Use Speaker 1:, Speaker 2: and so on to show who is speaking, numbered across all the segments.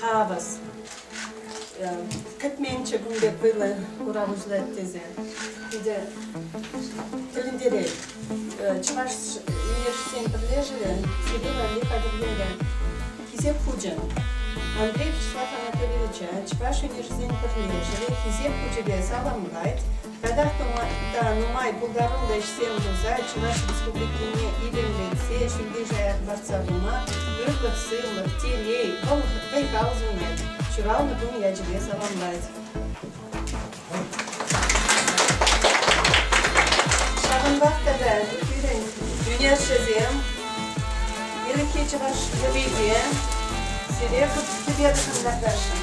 Speaker 1: хавас кӗтменччӗ кун пек вӑйлӑ курав уҫӑлать тесе питӗ тӗлӗнтерет. Чӑваш ешсен пӗрлешӗвӗ сӗтел валли хатӗрлерӗ. Хисеп хучӗ. Андрей Вячеслав Анатольевича Чӑваш ӗнешӗсен пӗрлешӗвӗ Хисеп хучӗпе саламлать. Татах та нумай пултаруллӑ ӗҫсем пулса Чӑваш Республикине илемлетсе, ҫӳлте-шая лартса пыма ырлӑх-сывлӑх, телей, вӑй-хал сунать, ҫуралнӑ кун ячӗпе саламлать. Ҫавӑнпах тата пирӗн юнашшисем ирӗкхи чӑваш йӑвисем сире тупер шӑнкӑрташӑн.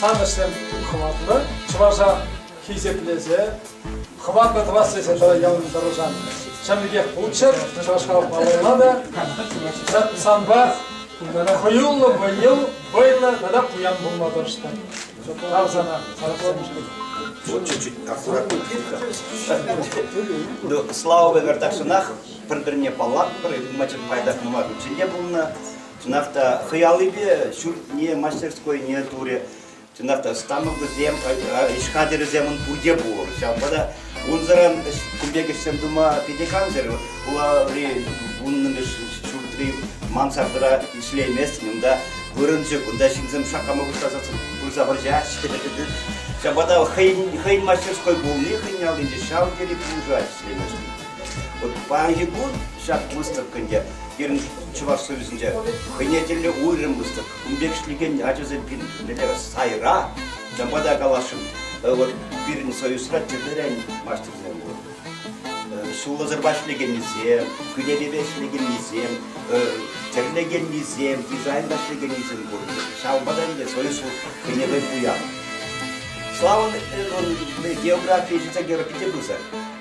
Speaker 1: сан ӗҫсем хӑватлӑ, чӑваша хисеплесе, хӑватлӑ тӑвас тесе ялан тӑрӑшан чӑн пекех пулччӑр, чӑвашла палӑрла та. Санпа хӑюллӑ вӑйӑл, вӑйлӑ тата пуян пулма тӑрӑштӑр. Тав сана, Вот чуть-чуть аккуратно. Ну, слава богу, так что нах пӗр-пӗрне паллатпӑр, ылмачӑк пайтах нумай хутчен те пулнӑ. Чӑнах та хӑй аллипе ҫуртне, мастерскойне турӗ. Чӑнах та станокӗсем, ӗҫ хатӗрӗсем пурте пур. Ҫавӑнпа та унсӑран кун пек ӗҫсем тума питӗ кансӗр. Хулари вуннӑмӗш ҫуртри мансардӑра ӗҫлейместӗн, унта вырӑнчӑк, унта ҫынсем шаккама пуҫласа пырса вӑрҫаҫҫӗ. Ҫавӑнпа та хӑйӗн мастерской пулни хӑйӗн аллинче ҫав тери пулӑшать ӗҫлеймешкӗн. Вот паянхи кун ҫак выставкӑн те пирӗн Чӑваш Союзӗнче хӑйне тӗллӗ уйрӑм выставка. Ун пек ӗҫлекен ачасем пирӗн мӗнле сайра, чӑнпа та каласшӑн, вот пирӗн союзра тӗрлӗрен мастерсем пур. Ҫулсӑрпа ӗҫлекеннисем, кӳлепепе ӗҫлекеннисем, тӗрлекеннисем, дизайнта ӗҫлекеннисем пур. Ҫавӑнпа та ӗнтӗ союз хӑйне хӑй пуян. Славӑн географийӗ ҫитсе кӗрӗ пӗтӗм пырса.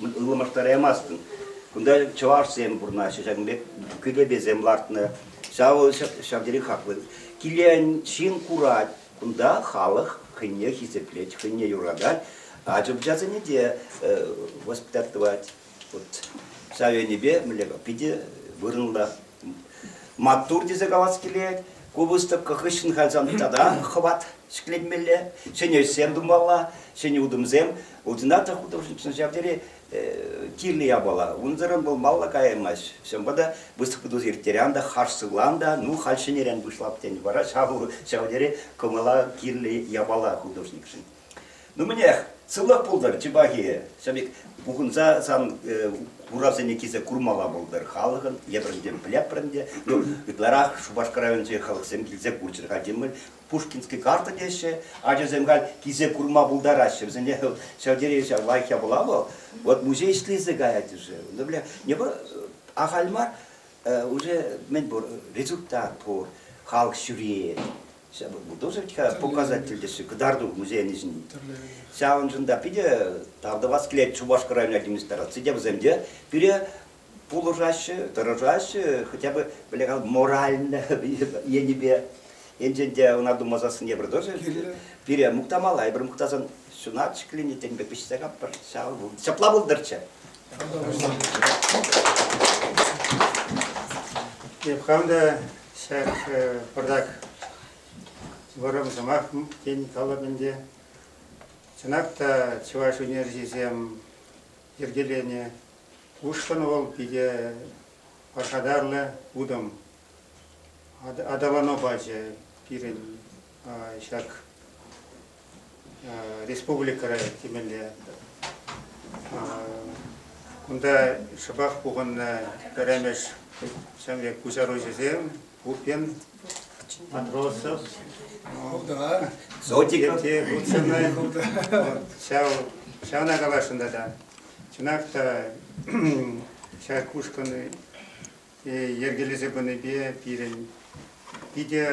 Speaker 1: ылмаштараймастӑн. Кунта чӑвашсем пурӑнаҫҫӗ, ҫакӑн пек кӳлепесем лартнӑ. Ҫавӑл ҫав тери хаклӑ. Килен ҫын курать. Кунта халӑх хӑйне хисеплет, хӑйне юратать. Ача-пӑчасене те воспитать тӑвать. Вот ҫав енӗпе мӗнле питӗ вырӑнлӑ Маттур тесе калас килет. Ку выставка хыҫҫӑн кайсан тата хӑват ҫӗкленмелле, ҫӗнӗ ӗҫсем тумалла, ҫӗнӗ утӑмсем. Ordinator художникшӑн ҫав тери кирлӗ япала. Унсӑрӑн пулмалла каяймасть. Ҫавӑнпа та выставка тус ирттерен та, хаш сывлан та, ну халь ҫӗнӗрен пуҫлап тенӗ вара ҫав ҫав тери кӑмӑла кирлӗ япала художникшӑн. Нумӗнех, сывлӑх пултӑр, чи пахи. Ҫамик, пухӑнса сан э, хуравсене килсе курмалла пултӑр халӑхӑн. Эпӗр те, пӗлеппӗр ӗнтӗ. Ну, ытларах Шупашкар районӗнчи халӑхсем килсе курччӑр-ха темӗн. Пушкинский карта теҫҫӗ. Ачасем халь килсе курма пултараҫҫӗ. Вӗсене ҫав тери ҫав лайӑх япала вӑл. Вот музей ӗҫлесе каять-ши? Ну, бля, не вӑл ахаль мар, э, уже мӗн пур, результат пур, халӑх ҫӳрет. Ҫавӑн тоже такая показатель теҫҫӗ кӑтарту музейӗн ӗҫӗн. Ҫавӑншӑн та питӗ тав тӑвас килет Шупашкар район администраци те вӗсем те пире пулӑшаҫҫӗ, тӑрӑшаҫҫӗ, хотя бы бляха моральлӗ енӗпе. Енчен те ӑна тума сассӑн евӗр тоже пире мухтамалла, эпир мухтасан ҫунатчӗ клини тенпе пиҫсе каппӑр. Ҫапла пултӑрччӗ. Эп хам та ҫак пӑртак вӑрӑм сӑмах тен калӑп ӗнтӗ. Чӑнах та чӑваш ӳнерҫисем йӗркеленӗ ушкӑн вӑл питӗ пархатарлӑ утӑм. Аталану пачӗ пирӗн ҫак республикӑра темелле. Кунта шӑпах пухӑннӑ пӗрремӗш ҫемье куҫаруҫӑсем Пупин, Матросов, Зотиков, ҫав ҫавна каласшӑн тата. Чӑнах та ҫак ушкӑн йӗркелесе пынипе пирӗн питӗ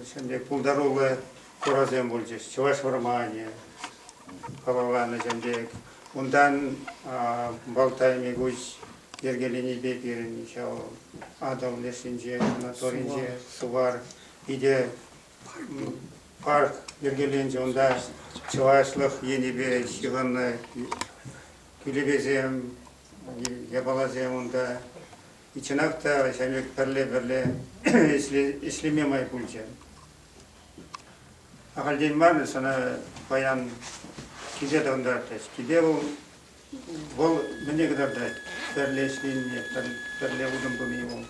Speaker 1: ҫемье пултаруллӑ хурасем пулчӗҫ. Чӑваш вӑрманӗ халалланӑ ҫемье. Унтан Балтай Мигуч йӗркеленипе пирӗн ҫав Атӑл лешӗнче, Anaторинче, Сувар питӗ парк йӗркеленчӗ. Унта чӑвашлӑх енӗпе ҫыхӑннӑ кӳлепесем, япаласем унта чӑнах та ҫамрӑк пӗрле-пӗрле ӗҫлеме май пулчӗ. Ахальтен мар сана паян киле тӑрантартрӗҫ. Киле вӑл, вӑл мӗне кӑтартать пӗрле ӗҫленине, пӗрле утӑм туни вӑл.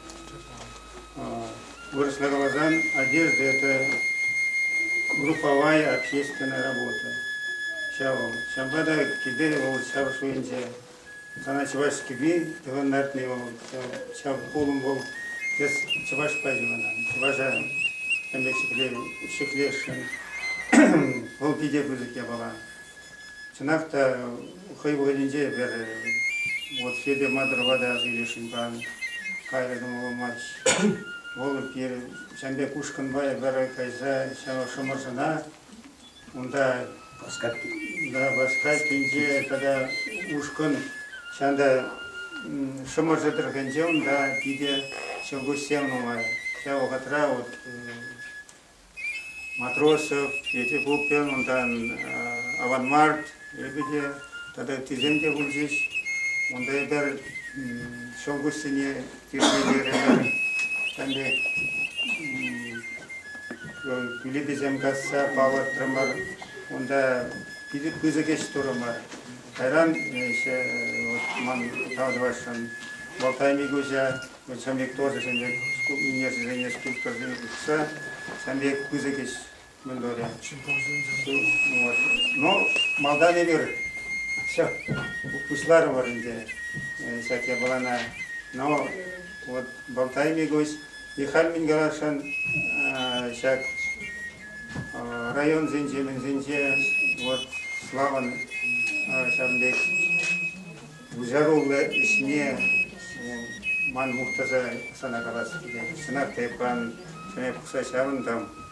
Speaker 1: Вырӑсла каласан, одежда – это групповая общественная работа. Ҫав вӑл. Ҫавӑнпа та килте вӑл ҫар шуйӗнче Сана чӑваш кӗпи тӑван лартни вӑл, ҫав хулӑм вӑл. Эс чӑвашпа юнанан, чӑваша тем пек ҫӗклесшӗн. Вӑл питӗ пысӑк япала. Чӑнах та хӑй вӑхӑтӗнче эпир вот Федя Мадырова та сөйлесшӗн-ха. Кайрӗ кӑмӑллӑмасть. Вӑл пир ҫам пек ушкӑнпа эпир кайса ҫав Шӑмӑршӑна Унта Васкассинче тата ушкӑн ҫанта Шӑмӑршӑ тӑрӑхӗнче унта питӗ ҫӑлкуҫсем нумай. Ҫав вӑхӑтра вот Матросов, Петя Пупин, унтан Аван Март лебеде тата ыттисем те пулчӗҫ. Унта эпир ҫӑлкуҫсене Тирпейпе ӗмӗр ӗнтӗ билетӗсем касса палӑртрӑмӑр. Унта питӗ пысӑк ӗҫ турӑмӑр. Кайран ман тав тӑвасшӑн Болтай Микуҫа, Чӑн пек тосӗсемпе минерсерен, скульпторсем тухса сан пек пысӑк ӗҫ мӗнлере? Ну, малтан эпир все пуҫларӑмӑр ӗнтӗ ҫак япалана. Но вот болтайми гость Михаил Мингарашӑн ҫак районсенче, мӗнсенче вот Славӑн ҫавӑн пек пуҫаруллӑ ӗҫне ман мухтаса сана калас килет. Чӑнах та эп хам ҫӗнӗ пухса ҫавӑнтӑм.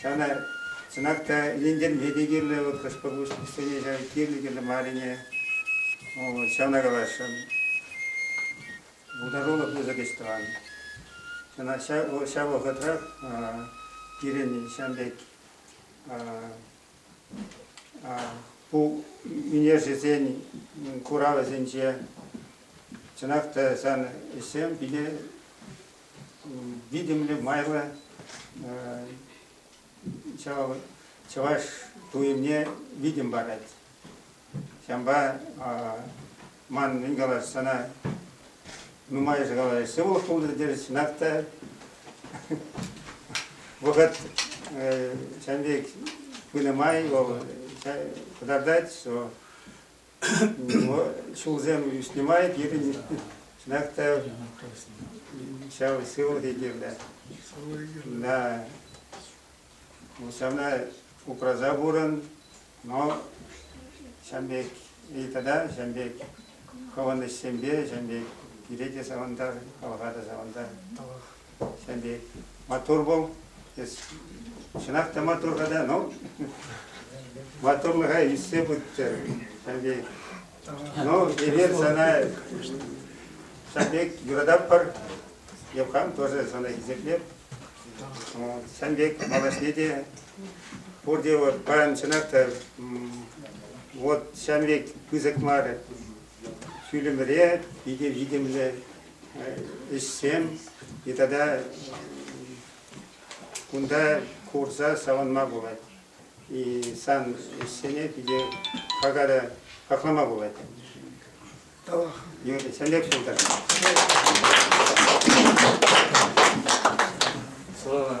Speaker 1: Ҫавна, чӑнах та, илентерме те кирлӗ вӑл хӑш-пӗр ҫав кирлӗ-кирлӗ маррине. Ҫавна каласшӑн. Пултарулӑх пысӑк ӗҫ тӑван. Чӑнах ҫав вӑхӑтрах пирӗн ҫавӑн пек ку ӳнерҫӗсен куравӗсенче чӑнах та сан ӗҫсем питӗ витӗмлӗ майлӑ чӑваш туйӑмне витӗм парать. Ҫавӑнпа ман мӗн калас, сана нумайӑшӗ калаҫ сывлӑх пултӑр тесе чӑнах та вӑхӑт ҫавӑн пек пынӑ май вӑл кӑтартать, ҫулсем ӳснӗ май пирӗн чӑнах та ҫав сывлӑхӗ кирлӗ. Да. Ҫавна упраса пурӑн, но ҫав пек и тата ҫав пек хӑвӑн ӗҫсемпе ҫав пек пире те савӑнтар, халӑха та савӑнтар. Ҫав пек мотор вӑл. Чӑнах та мотор-ха да, ну, моторлӑха ӳссе пыттӑр. Ҫав пек. Ну, эпир сана ҫав пек юрататпӑр. Эп хам тоже сана хисеплеп. Ҫав пек малашне те пурте вот паян чӑнах та вот ҫав пек пысӑк мар фильмре питӗ витӗмлӗ ӗҫсем тата кунта курса савӑнма пулать. Сан ӗҫсене питӗ какара хаклама пулать. Сӗнек пултар. Слава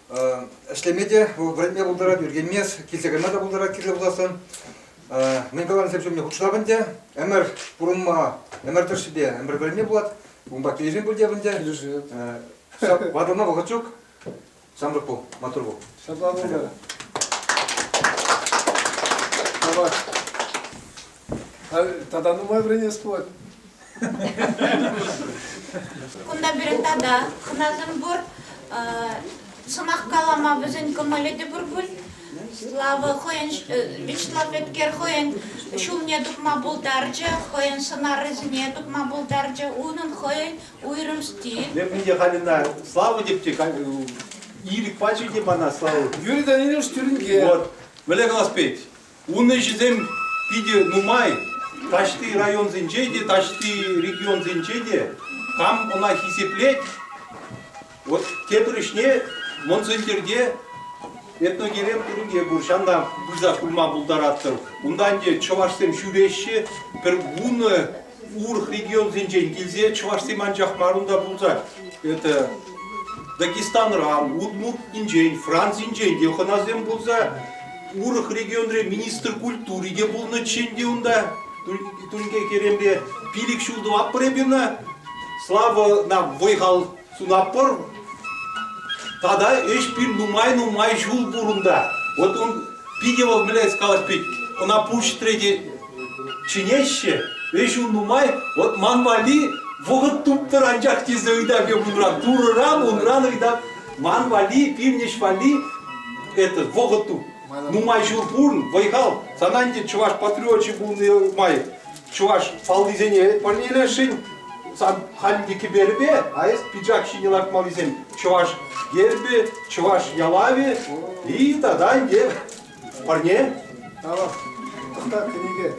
Speaker 1: ӗҫлеме те вӗренме пултарать, ӳркенмест, килсе кайма та пултарать кирлӗ пулассан. Мӗн каланисем ҫумне хутшӑнап ӗнтӗ. Ӗмӗр пурӑнма, ӗмӗр тӑршшӗпе ӗмӗр вӗренме пулать. Унпа килӗшӳ пуль те ӗнтӗ. Ватӑлма вӑхӑт ҫук. Ҫамрӑк пул, маттур пул. Ҫапла пултӑр. Тавах. Тата нумай вӗренес пулать. Кунта пирӗн тата хӑнасем пур. Сӑмах калама вӗсен кӑмӑлӗ те пур пуль. Слава хӑйӗн Вячеслав Эткер хӑйӗн ҫулне тупма пултарчӗ, хӑйӗн сӑнарӗсене тупма пултарчӗ. Унӑн хӑйӗн уйрӑм стиль. Мен мне Халина слава деп те ирӗк пачӗ те мана слава. Юрий Danilevич Тюринге. Вот, мӗнле калас пет? Ун ӗҫӗсем питӗ нумай. Таҫти районсенче те, таҫти регионсенче те кам ӑна хисеплет, вот тепӗр ӗҫне Мӑн Сӗнтӗрте этногерем пуринке пур, ҫанна пырса курма пултаратӑр. Унтан те чӑвашсем ҫӳреҫҫӗ, пӗр вунӑ урӑх регионсенчен килсе чӑвашсем анчах мар унта пулсан это Дагестанран, удмуртинчен, Францинчен те хӑнасем пулса урӑх регионре министр культури те пулнӑччен те унта тунке керемпе пилӗк ҫул тӑватпӑр эпир ӑна слава нам вӑй-хал сунатпӑр. Тата ӗҫ пир нумай-нумай ҫул пур унта. Вот он питӗ вӑл мӗнле калать пит, ӑна пуҫ трети чӗнеҫҫӗ. Ӗҫ ун нумай, вот ман валли вӑхӑт туптӑр анчах тесе ыйтать унран. Турӑран унран ыйтать, ман валли, пивнӗҫ валли это вӑхӑт туп. Нумай ҫул пур, вӑй-хал. Сана ӗнтӗ чӑваш патриочӗ пулни май чӑваш фаллисене парнелесшӗн. Сан хальхи кӗперӗпе аэс пиджак ҫине лартмаллисем чӑваш гербӗ, чӑваш ялавӗ и тата те парне. Тава, та книге.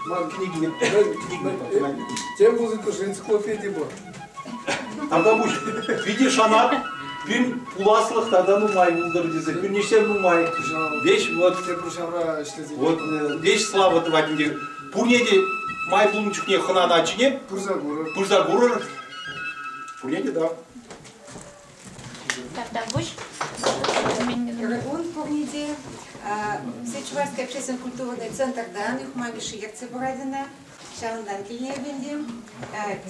Speaker 1: Ман книги нет, тем музыка же энциклопедия была. Тата пуҫ питӗ шанат, пин пуласлӑх тата нумай пултӑр тесе. Пӳрнишсем нумай. Веҫ вот. Тепрушавра ӗҫлесе. Вот веҫ слава тӑвать ӗнтӗ. Пурне те май пулнӑ чухне хӑнана ачине пырса курӑр. Пырса курӑр. Пурне те да. Тартарпуҫ. Регун Пурниде, Сечуварский общественный культурный центр данных мамиши ертсе пыратына Ҫавӑнтан килнӗ ӗпентем.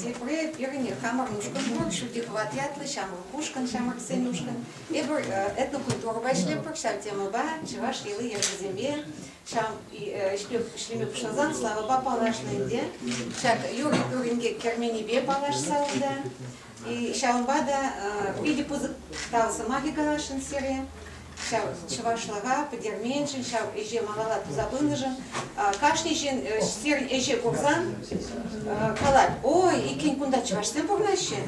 Speaker 1: Тепре пирӗн хамӑр ушкӑн пур, Шутикват ятлӑ ҫамрӑк ушкӑн, ҫамрӑксен ушкӑн. Эпир этнокультурӑпа ӗҫлетпӗр ҫав темӑпа, чӑваш йӑли-йӗркисемпе. Ҫав ӗҫлеме пуҫласан славӑпа паллашнӑ ӗнтӗ. Ҫак юрӑ-тӳрӗнке керменӗпе паллашса унта. Ҫавӑнпа та питӗ пысӑк сӑмахӗ каласшӑн сире. Ҫав чӑвашлӑха пӗтерменшӗн, ҫав ӗҫе малалла туса пынӑшӑн кашни ҫын сирӗн ӗҫе курсан калать, ой, иккен кунта чӑвашсем пурӑнаҫҫӗ.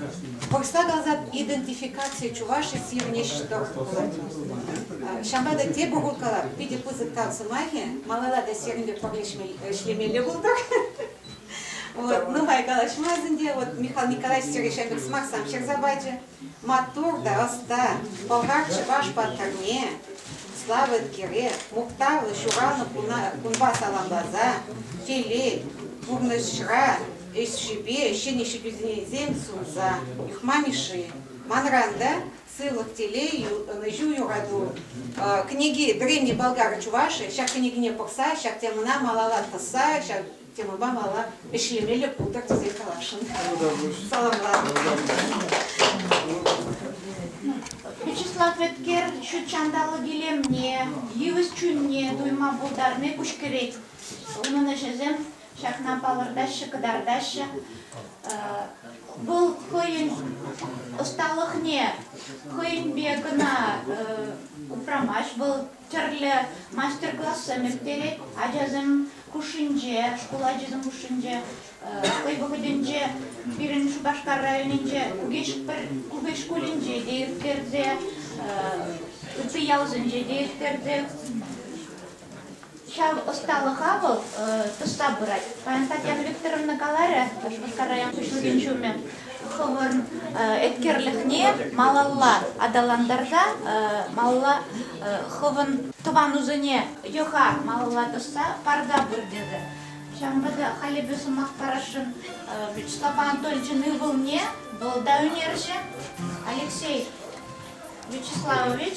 Speaker 1: Вырӑсла каласан идентификаци чуваши сирӗн ӗҫ тӑрӑх пулать. Ҫавӑнпа та тепӗр хут калап, питӗ пысӑк тав сӑмахӗ, малалла та сирӗнпе пӗрлешме ӗҫлемелле пултӑр. Вот, нухай калаҫмасть ӗнтӗ, вот Михаил Николаевич Серещенков сӑмахсам ҫырса пачӗ. Маттур та ӑста, пӑлхар чӑваш паттӑрне, славет кире, мухтавлӑ ҫуралнӑ кунпа саламласа, телей, пурнӑҫра ӗҫшӗпе ҫӗнӗ ҫитӳсенчен сунса, Мишши, манран та Сывлӑх, телей, ӑнӑҫу, юрату. Кӗнеки Древние болгары чуваши. Ҫак кӗнекене пӑхса, ҫак темӑна малалла тӑсса, ҫак темӑпа малалла ӗҫлемелле пултӑр тесе каласшӑн. Саламлатӑп. Вячеслав Эткер ҫут ҫанталӑк илемне, йывӑҫ чунне туйма пултарни куҫкӗрет. Унӑн ӗҫӗсем Ҫакна палӑртаҫҫӗ, кӑтартаҫҫӗ. Вӑл хӑйӗн ӑсталӑхне хӑйӗнпе кӑна упрамасть. Вӑл тӗрлӗ мастер-классем ирттерет ачасем хушшинче, шкул ачисем хушшинче. Хӑй вӑхӑтӗнче пирӗн Шупашкар районӗнче Кукеч шкулӗнче те ирттерсе, ытти ялсенче те ирттерсе Ҫав ӑсталӑха вӑл тӑсса пырать. Паян Татьяна Викторовна каларӗ Шупашкар район хӑҫлӑхӗн ҫумӗ хӑвӑн эткерлӗхне малалла аталантарса, малалла хӑвӑн тӑванусене йӑха малалла тӑсса парса пыр тесе. Ҫавӑнпа та халӗпе сӑмах парасшӑн Вячеслав Анатольевичӑн ывӑлне, вӑл та ӳнерҫӗ Алексей Вячеславович.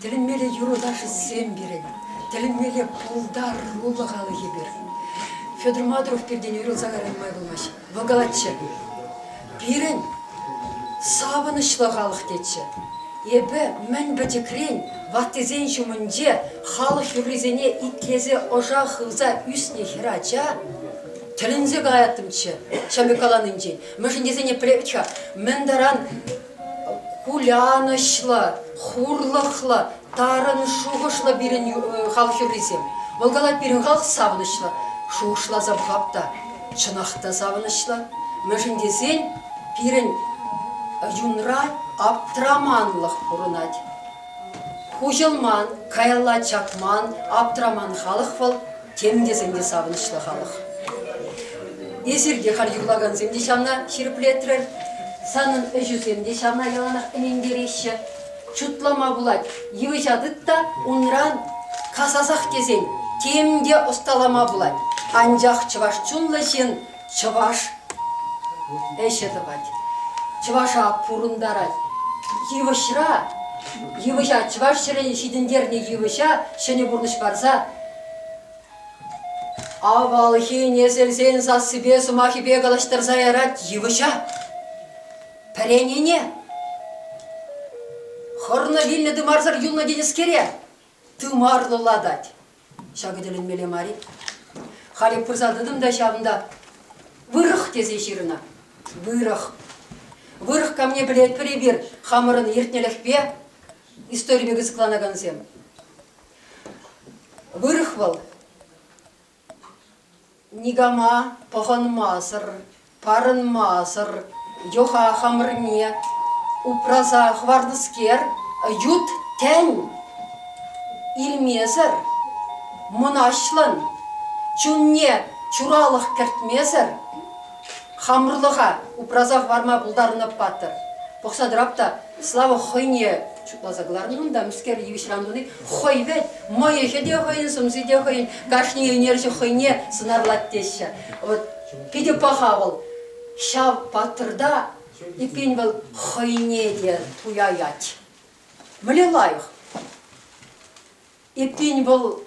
Speaker 1: Тӗлӗнмелле юрӑ-ташӑсем пирӗн, тӗлӗнмелле пултаруллӑ халӑхӗ пир. Федор Мадуров пиртен уйрӑлса кайран май пулмасть. Вӑл калатчӗ, пирӗн савӑнӑҫлӑ халӑх тетчӗ. Эпӗ мӗн пӗчӗкрен ваттисен ҫумӗнче халӑх юррисене итлесе ӑша хывса ӳснӗ хӗрача тӗлӗнсе каяттӑмччӗ ҫамрӑк каланинчен. Мӗншӗн тесен эпир мӗн таран кулянӑҫлӑ, хурлӑхлӑ, тарӑн шухӑшлӑ пирӗн халӑх юррисем. Вӑл калать, пирӗн халӑх савӑнӑҫлӑ. Шухӑшласа пӑхап та, чӑнах та савӑнӑҫлӑ. Мӗншӗн тесен пирӗн юнра аптраманлӑх пурӑнать. Хуҫӑлман, каялла чакман, аптраман халӑх вӑл тем тесен те савӑнӑҫлӑ халӑх. Эсир те халь юрлакансем те ҫавна ҫирӗплетрӗр, санӑн ӗҫӳсем те ҫавна яланах ӗнентереҫҫӗ. Шутлама пулать, йывӑҫа тыт та унран касасах тесен тем те ӑсталама пулать. Анчах чӑваш чунлӑ ҫын Чӑваш ӗҫӗ тӑвать. Чӑваша пурӑнтарать. Йывӑҫра, йывӑҫа, чӑваш ҫӗрӗн ҫитӗнтернӗ йывӑҫа ҫӗнӗ пурнӑҫ парса авалхи несӗлсен сассипе сӑмахӗпе калаҫтарса ярать йывӑҫа. Пӗренине. Хӑрнӑ вилнӗ тымарсӑр юлнӑ тенӗскере тымарлӑлатать. Ҫакӑ тӗлӗнмелле мар-и? Халӗ пырса тӑтӑм та ҫавӑнта. Вырӑх тесе ҫырнӑ. Вырӑх. Вырӑх камне пӗлетпӗр эпир хамӑрӑн иртнӗлӗхпе историне кӑсӑкланакансем. Вырӑх вӑл Никама пӑхӑнмасӑр, парӑнмасӑр йӑха хамӑрне упраса хӑвартӑскер, ют тӗн илмесӗр, мӑнаҫлӑн, чунне чуралӑх кӗртмесӗр хамӑрлӑха упраса хӑварма пултарнӑ паттӑр. Пӑхса тӑрап та Слава хӑйне шутласа кӑларнӑ унта, мӗскер йывӑҫран туни хӑй вӗт, мӑйӑхӗ те хӑйӗн, сӑмси те хӑйӗн, кашни ӳнерҫӗ хӑйне сӑнарлать теҫҫӗ. Вот питӗ паха вӑл. Ҫав паттӑрта эппин вӑл хӑйне те туяять. Мӗне лайӑх. Эппин вӑл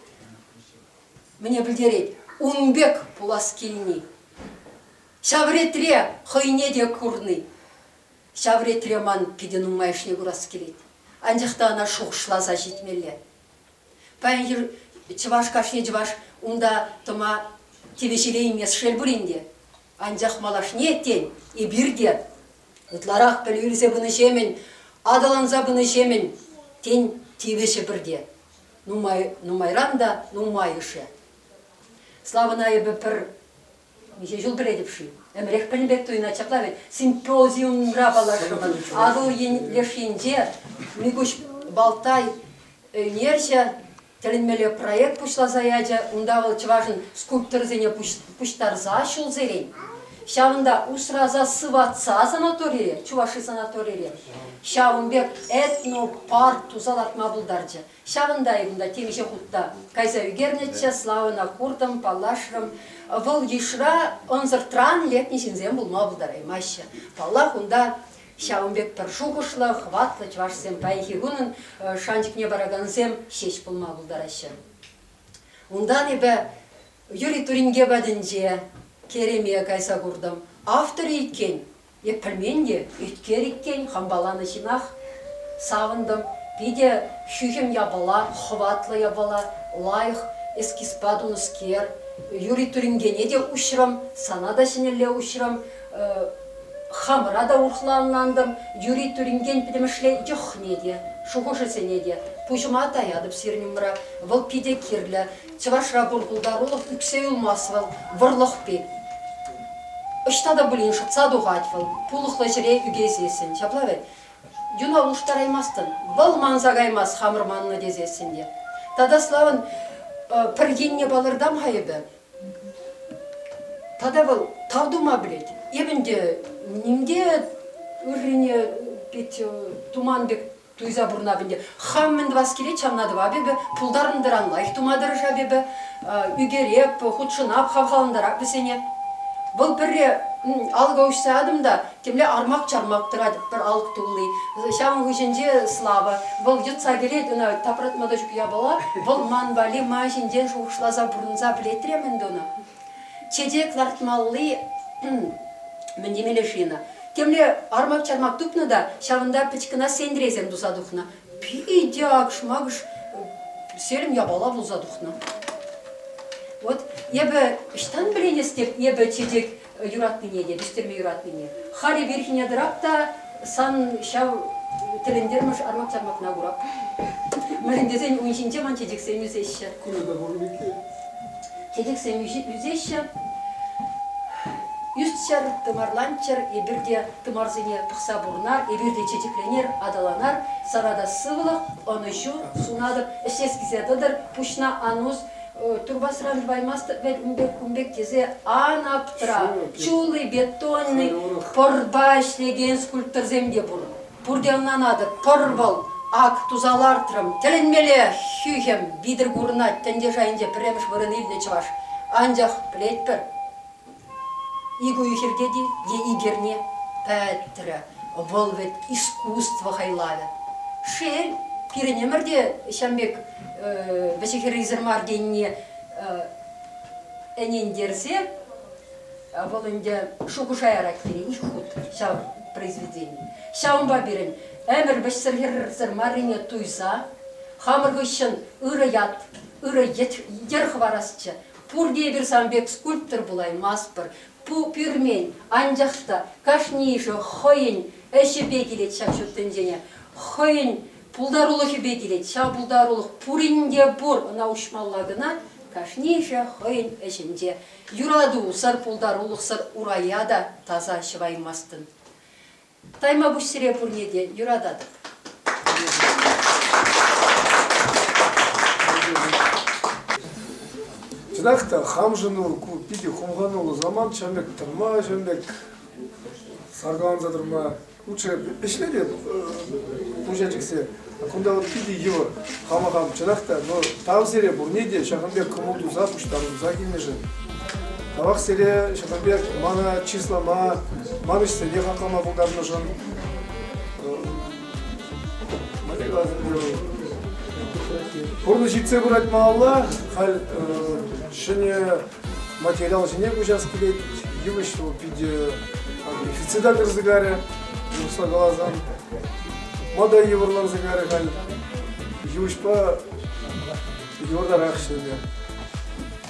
Speaker 1: мӗне пӗлтерет, ун пек пулас килни. Ҫав ретре хӑйне те курни. Ҫав ретре ман питӗ нумайӑшне курас килет. Анчах та ӑна шухӑшласа ҫитмелле. Паян чӑваш кашни чӑваш унта тӑма тивӗҫелеймест шел пулин те. Анчах малашне, тен, эпир те ытларах пӗлӳ илсе пынӑҫемӗн, аталанса пынӑҫемӗн, тен, тивӗҫӗпӗр те. Нумай, нумайран та нумайӑшӗ. Славӑна эпӗ пӗр Миҫе ҫул кӗретӗп-ши? Ӗмӗрех пӗлнӗ пек туйӑнать ҫапла вӗт. Симпозиумра паллашрӑмӑр. Атӑл леш енче Микуҫ Балтай ӳнерҫӗ тӗлӗнмелле проект пуҫласа ячӗ. Унта вӑл чӑвашӑн скульпторӗсене пуҫтарса ҫулсерен ҫавӑнта усраса сыватса санаторире, Чуваши санаторире ҫавӑн пек этнопарк туса лартма пултарчӗ. Ҫавӑнта-и кунта темиҫе хут та кайса ӳкернӗччӗ, Славӑна куртӑм, паллашрӑм. Вӑл йышра ӑнсӑртран лекнӗ ҫынсем пулма пултараймаҫҫӗ. Паллах, унта ҫавӑн пек пӗр шухӑшлӑ, хӑватлӑ чӑвашсем паянхи кунӑн шанчӑкне паракансем ҫеҫ пулма пултараҫҫӗ. Унтан эпӗ Юрий Туринке патӗнче Кереме кайса куртӑм. Автор иккен, Е пӗлмен те, ӳткер иккен, хӑмпаланӑ ҫынах. Савӑнтӑм. Питӗ ҫӳхӗм япала, хӑватлӑ япала, лайӑх. Эскизпа тунӑскер. Юри туринкене те уҫрӑм, сана та ҫӗнӗлле уҫрӑм. Хамӑра та урӑхла ӑнлантӑм. Юри туринкен пӗтӗмӗшле йӑхне те, шухӑшӗсене те пуҫӑма таятӑп сирӗн умра. Вӑл питӗ кирлӗ. Чӑвашра пур пултарулӑх ӳксе юлмасть вӑл, вӑрлӑх пек. Ӑҫта та пулин шӑтса тухать вӑл, пулӑхлӑ ҫӗре ӳкесессӗн. Ҫапла вӗт. Юна улӑштараймастӑн. Вӑл манса каймасть хамӑр маннӑ тесессӗн те. Тата Славӑн пӗр енне палӑртам-ха эпӗ. Тата вӑл тав тума пӗлет. Эпӗ ӗнтӗ ним те ыррине туман пек Туйса пурӑнап ӗнтӗ. Хам мӗн тӑвас килет, ҫавна тӑвап эпӗ. Пултарнӑ-тӑран лайӑх тума тӑрӑшап эпӗ. Ӳкереп, хутшӑнап, хавхалантарап вӗсене. Вӑл пӗрре алӑка уҫса ятӑм та темле армак-чармак тӑрать пӗр алӑк тулли. Ҫав хыҫӗнче Слава. Вӑл йӑтса кӗрет, ӑна тапратма та ҫук япала. Вӑл ман валли ман ҫинчен шухӑшласа пурӑнса пӗлет-рем ӗнтӗ ӑна. Чечек лартмалли мӗн темелле шина. Темле армак-чармак тупнӑ та ҫавӑнта пӗчкӗна сентресем туса тухнӑ. Питӗ акшмакш серӗм япала пулса тухнӑ. Вот эпӗ ӑҫтан пӗленестеп эпӗ чечек юратнине те, пӗҫтерме юратнине. Хари вирхине тӑрап та сан ҫав тӗлӗнтермӗш армак-чармакна курап. Мӗнлен тесен ун ҫинче ман чечексем ӳсеҫҫӗ. Курнӑ пуль иккен. тетексем ӳсеҫҫӗ. Ӳсчӗр, тымарланччӑр, эпир те тымарсене пӑхса пурӑнар, эпир те чечекленер, аталанар, сана та сывлӑх, ӑнӑҫу сунатӑп, ӗҫлес килсе тӑтӑр, пуҫна ан ус, турбасран тӑваймастӑп вӗт ун пек кун пек тесе ан аптра. Чулый, бетонный, пӑрпа ӗҫлекен скульпторсем те пур. Пурте ӑнланатӑп, пӑрӑр вӑл. Ак, туса лартрӑм. Тӗлӗнмелле хӳхӗм витӗр курӑнать тӗнче шайӗнче пӗрремӗш вырӑн илнӗ чӑваш. Анчах пӗлетпӗр, ик уйӑхӗртет-и е ик эрне, пӗтрӗ. Вӑл вӗт искусство хайлавӗ. Шел, пирӗн ӗмӗр те ҫав пек вӗҫӗ-хӗррисӗр мар тенине ӗнентерсе Вӑл ӗнтӗ шухӑша ярать пирӗн ҫук хут ҫав произведени. Ҫавӑнпа пирӗн ӗмӗр вӗҫсӗр-хӗрсӗр маррине туйса хамӑр хыҫҫӑн ырӑ ят, ырӑ йӗр хӑварасчӗ. Пурте эпир сан пек скульптор пулаймастпӑр. Ку пӳрмен, анчах та кашнийӗшӗ хӑйӗн ӗҫӗпе килет ҫав ҫут тӗнчене, хӑйӗн пултарулӑхӗпе килет. Ҫав пултарулӑх пурин те пур, ӑна уҫмалла кӑна кашнийӗшӗ хӑйӗн ӗҫӗнче. Юрату, сар пултарулӑхсӑр урая та таса ҫӑваймастӑн. Таймапуҫ сире пурне те юрататӑп. Чӑнах та хамшӑну ку питӗ хумхануллӑ самант ҫӗмӗк тӑрма ҫӗмӗк саркаланса тӑрма лучше ӗҫле те пуҫа чиксе. Кунта вот питӗ йывӑр хавахам чӑнах та, но тав сире пурне те ҫакӑн пек кӑмӑл туса пуҫтарӑнса килнӗшӗн. Тавах сире ҫакӑн пек мана чыслама, ман ӗҫсене хаклама пултарнӑшӑн. Пурнӑҫ ҫитсе пырать малалла. Халь ҫӗнӗ материал ҫине куҫас килет. Йывӑҫ вӑл питӗ дефицита кӗрсе карӗ, урӑхла каласан. Мода йывӑрланса карӗ халь. Йывӑҫпа йывӑртарах ӗҫлеме.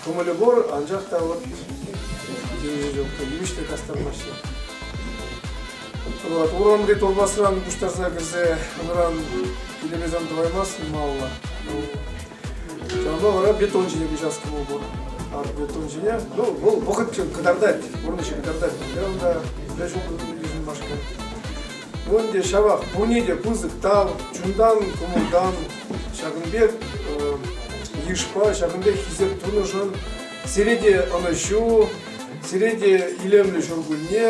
Speaker 1: Кӑмӑлӗ пур, анчах та вот йывӑҫ те кастармаҫҫӗ. Вот, урамри толбасран пуҫтарса кӗрсе унран килебезан тӑваймасть малла. Ҫавӑнпа вара бетон ҫине куҫас кӑмӑл пур. Ар бетон ҫине, ну, вӑл вӑхӑт кӑтартать, пурнӑҫ кӑтартать. Кайран та пӗр ҫул тытӑнмашкӑн. Ну ӗнтӗ ҫавах пурне те пысӑк тав, чунтан, кӑмӑлтан, ҫакӑн пек йышпа, ҫакӑн пек хисеп тунӑшӑн сире те ӑнӑҫу, сире те илемлӗ ҫуркунне,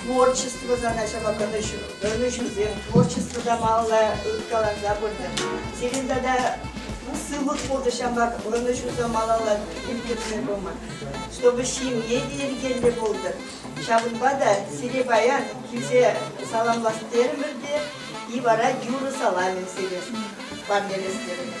Speaker 1: Творчество задачӑпа тӑнӑҫусем, творчество та малалла ыткаланса пыртӑр. Сирӗн тата сывлӑх пурнӑҫа ӑнӑҫусем малалла ирттерсе пыма, чтобы ҫемье те йӗркеллӗ пултӑр. Ҫавӑнпа та сире паян килсе саламлас терӗмӗр те и вара юрӑ саламӗ сире парнелес терӗмӗр.